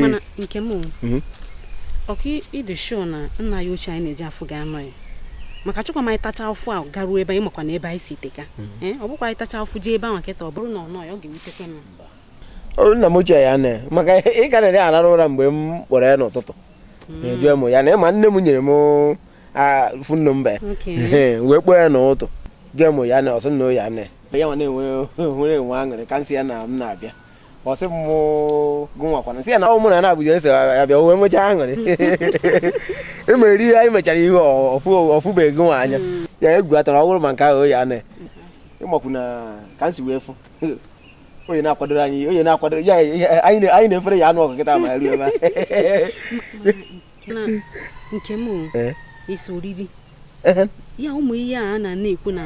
mana nke m mhm. ọkwa ị dị sure na nna ya ochie anyị na-eje afụ ga-anọ ya maka chọkwa ma anyị tacha afụfụ a garuo ebe anyị makwa na ebe anyị si teka mhm. eh, ọ bụkwa anyị tacha afụfụ jee ebe ahụ kịta ọ bụrụ na ọ nọ ya ọ ga-ewutekwa m nna m ochie ya na maka ị ka na-arara ụra mgbe m kpọrọ ya n'ụtụtụ ajụọ m ya na ị ma nne m nyere m fon nọmba ya wee kpọọ ya n'ụtụtụ jụọ m ya na ọ sị na ya na ya nwa na-enwe nwere enwe aṅụrị ka nsị ya na m na-abịa ọ sị m gụnwakwana nsị ya na ọ mụ na n'Abuja ese ya bịa wee nwechaa aṅụrị emere ihe anyị mechara ihe ọ fụbeghị gị nwa anya ya egwu atara ọ bụrụ ma nke ahụ ya na ị makwu na ka nsi wee fụ onye na-akwadoro anyị onye na-akwadoro ya anyị na-efere ya anụ ọgụ kịta ma ruo ebe nke m eh? isi oriri eh? ya ụmụ ihe a na na-ekwu na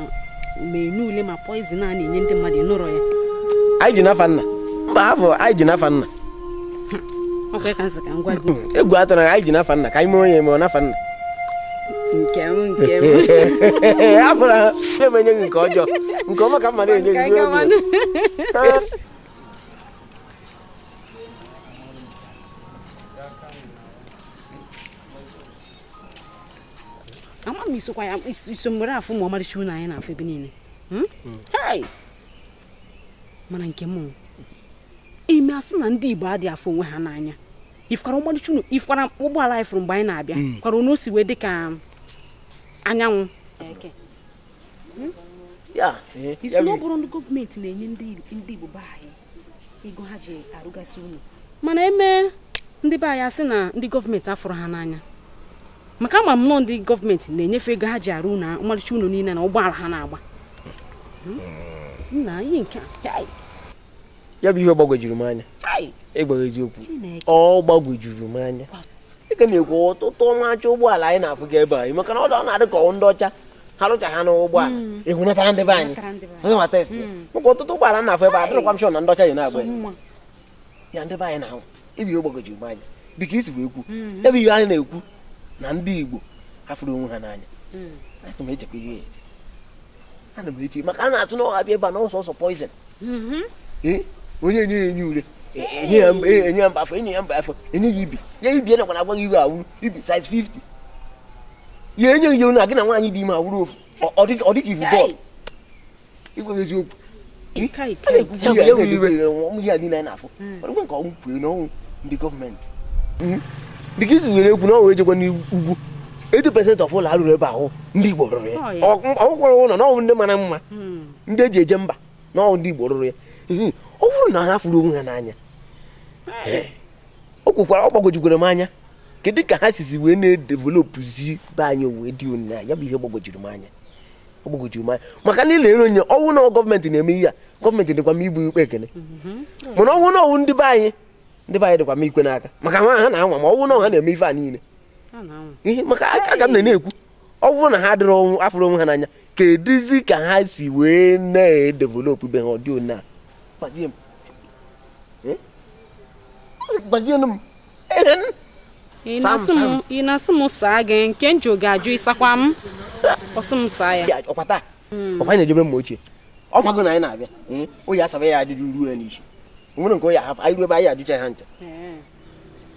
ma enyi ule ma poison a na-enye ndị mmadụ nụrọ ya anyị ji n'afa nna mba afọ anyị ji n'afa nna egwu atụna anyị ji n'afa nna ka anyị mee onye eme ọ n'afa nna nke m nke m afụrọ ha emenye gị nke ọjọọ nke ọma ka mma na-enye gị ama m i sokwa ya i so m were afụ ma ọmarịcha ụnọ anyị na-afụ ebe niile hmm? Hmm. mana nke m ime asị na ndị Igbo adị afụ onwe ha n'anya ị fụkwara ọmalịcha ụnọ ị fụkwara ụgbọala anyị fụrụ mgbe anyị na-abịa hmm. kwara ụnọ si wee dị ka anyanwụ hmm? eh, ị sị na ọ bụrụ ndị gọọmenti na-enye ndị Igbo be anyị ego ha ji arụgasị ụnọ mana eme ndị be anyị asị na ndị gọọmenti afụrọ ha n'anya maka ama m na ọ ndị gọọmenti na-enye fa ego ha ji arụ ụlọ ọmarịcha ụlọ niile na ụgbọala ha na-agba hmm? nna ihe nke ya bụ ihe gbagwojuru m anya ịgwa gị eziokwu ọ gbagwojuru m anya dịka na-ekwu ọtụtụ ọmacha ụgbọala anyị na-afụga ebe anyị maka na ọ na-adị ka ndị ọcha ha rụcha ha n'ụgbọala hmm. ebunatara ndị be anyị onye ma test hmm. maka ọtụtụ ụgbọala na-afụ ebe a adịrọkwa m sure na ndị ọcha ji na-agba ya ndị be anyị na-ahụ ebe ihe gbagwojuru m anya dịka i sibu ekwu mm-hmm. ebe ihe anyị na-ekwu na ndị Igbo afụrọ onwe ha n'anya mm. ana m echekwa ihe ana m eti maka a na-asị na ọha bịa ebe a na ọ sọsọ poison mm-hmm. eh, onye enye ya enyi ure enye ya mba enye ya mba afọ enye ya mba afọ enye ya ibi ya ibi ya nakwana agwa gị iwe awụrụ ibi size 50 ya enye ya na gị na nwaanyị dị ime awụrụ ofu ọ dịka i vu bọọlụ ịgwa gị eziokwu ndị gọọmenti dịka i si were ekwu na ọ wụ e jekwa n'ugwu 80% of ụlọ a rụrụ ebe ahụ ndị Igbo rụrụ ya o kwukwara ụlọ na ọnwụ ndị mara mma hmm. ndị e ji eje mba na ọ wụ ndị Igbo rụrụ ya ọ bụrụ na ha afụrọ onwe ha n'anya o kwukwara ọ gbagwojukwere m anya kedu ka ha sizi wee na-edevelopụzi be anyị wee dị onyinye ya bụ ihe gbagwojuru m anya ọ gbagwoju m anya maka na ị lere anya ọ wụ na gọọmenti na-eme ihe a gọọmenti dịkwa m igbu ikpe ekene mana ọ wụ na ọ wụ ndị be anyị ndị be anyị dịkwa m ikwe n'aka maka ha ha na-anwa ma ọ wụ na ha na-eme ife a niile Ha na-anwa. ihe maka aka ka m na-ekwu ọ bụrụ na ha adịrọ afụrụ onwe ha n'anya kedụzi ka ha si wee na-edevelopụ be ha ọ dị one a gbazie m Eh? gbazienụ m ị na-asị m saa gị nke m ga-ajụ ị sakwa m ọ sị m saa ya ọ kwa taa hmm. ọ kwa anyị na-eje be mma ochie ọ mago na anyị na-abịa hmm? ọ ya-asaba ya ajụjụ ruo ya n'isi nwere nke ọ ya-ahapụ anyị ruo ebe anyị ajụcha ha ncha hmm.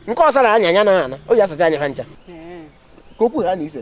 nke ọ sara anyị anyị na ana ọ ya-asacha anyị ha ncha ka okwu ha na ise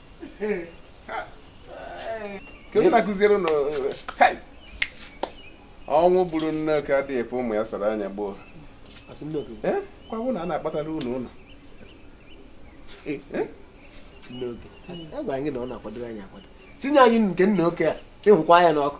ọnwụ gburu nne oke adịghị ekwe ụmụ ya sara anya gboo kwa bụ na a na-akpatara ụlọ ụlọ agwa anyị na ọ na-akwadoro anyị akwado tinye anyị nke nne oke a sị hụkwa ya n'ọkụ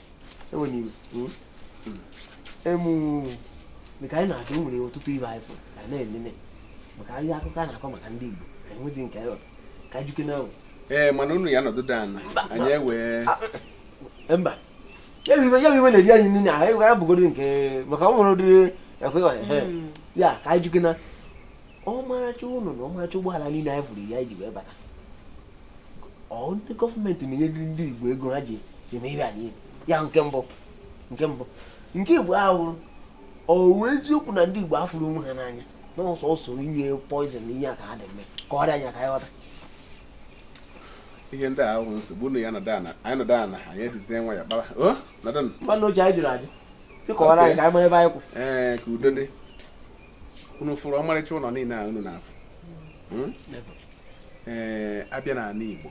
ewe na iwe emu mgbe anyị na-adị nwere ọtụtụ ihe anyị fụrụ ka na-elele maka ahịa akụkọ a na-akọ maka ndị Igbo ka enwezi nke anyị ka jụkene ee mana unu ya nọdụ da ana anyị ewee mba ya bụ ihe na-eri anyị nri n'ahụ ya bụgoro nke maka ọ nwere ụdịrị ekwe hmm. ya ka anyị jụkene ọmarịcha ụlọ na ọmarịcha ụgbọala niile anyị fụrụ anyị ji wee bata ndị gọọmenti na-enyedị ndị Igbo ego ha ji eme ihe a niile ya nke mbụ nke mbụ nke ịbụa ahụ ọ wụ eziokwu na ndị Igbo afụrọ onwe ha n'anya na ọ sọsọ inye poizin na ihe a ka ha dị eme kọwara anyị ka anyị ghọta ihe ndị ahụ nsogbu unu ya nọdụ ana anyị nọdụ ana anyị ejizie nwayọ kpara nọdụ nwanne oche anyị jụrụ ajụ sị kọwara anyị ka anyị mara ebe anyị kwụ ee ka udo dị unu fụrụ ọmarịcha ụnọ niine a unu na-afụ hmm? ee eh, a bịa na anị Igbo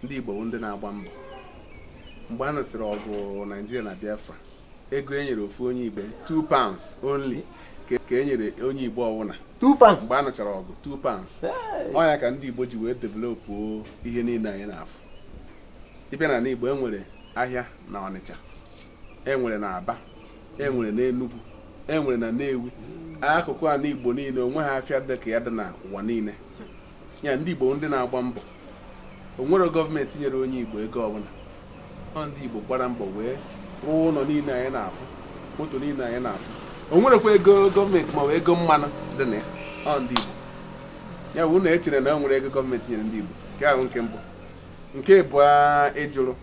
ndị Igbo bụ ndị na-agba mbọ mgbe a nụsịrị ọgụ Naijiria na Biafra ego e nyere ofu onye Igbo 2 pounds only ka e nyere onye Igbo ọwụna mgbe a nụchara ọgụ 2 pounds ọ ya ka ndị Igbo ji wee developụ ihe niile anyị na-afụ ị bịa na anị Igbo e nwere ahịa na Ọnịcha enwere na Aba enwere na Enugu enwere na Nnewi akụkụ ana Igbo niile onweghị afịa dị ka ya dị na ụwa niile ya ndị Igbo ndị na-agba mbọ onwere gọọmenti nyere onye Igbo ego ọbụla ọ ndị Igbo gbara mbọ wee rụọ ụlọ niile anyị na-afụ moto niile anyị na-afụ onwerekwa ego gọọmenti ma ọ bụ ego mmanụ dị na ya ọ ndị Igbo ya bụ na echere na o nwere ego gọọmenti nyere ndị Igbo nke ahụ nke mbụ nke ịbụa ị jụrụ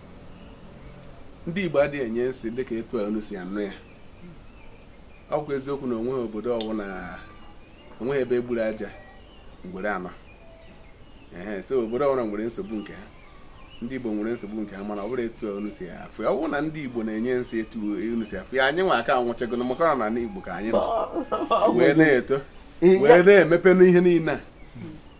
ndị Igbo adịghị enye nsị dịka etu a unu si anụ ya ọ bụkwa eziokwu na onweghị obodo ọbụla onweghị ebe egburu aja ngwere anọghị so obodo ọbụla nwere nsogbu nke ha ndị Igbo nwere nsogbu nke ha mana ọ bụrụ etu a unu si afụ ya ọ bụrụ na ndị Igbo na-enye nsị etu unu si afụ ya anyị nwa aka anwụchago na maka ọ na Igbo ka anyị nọ wee na-eto wee na-emepe n'ihe niile a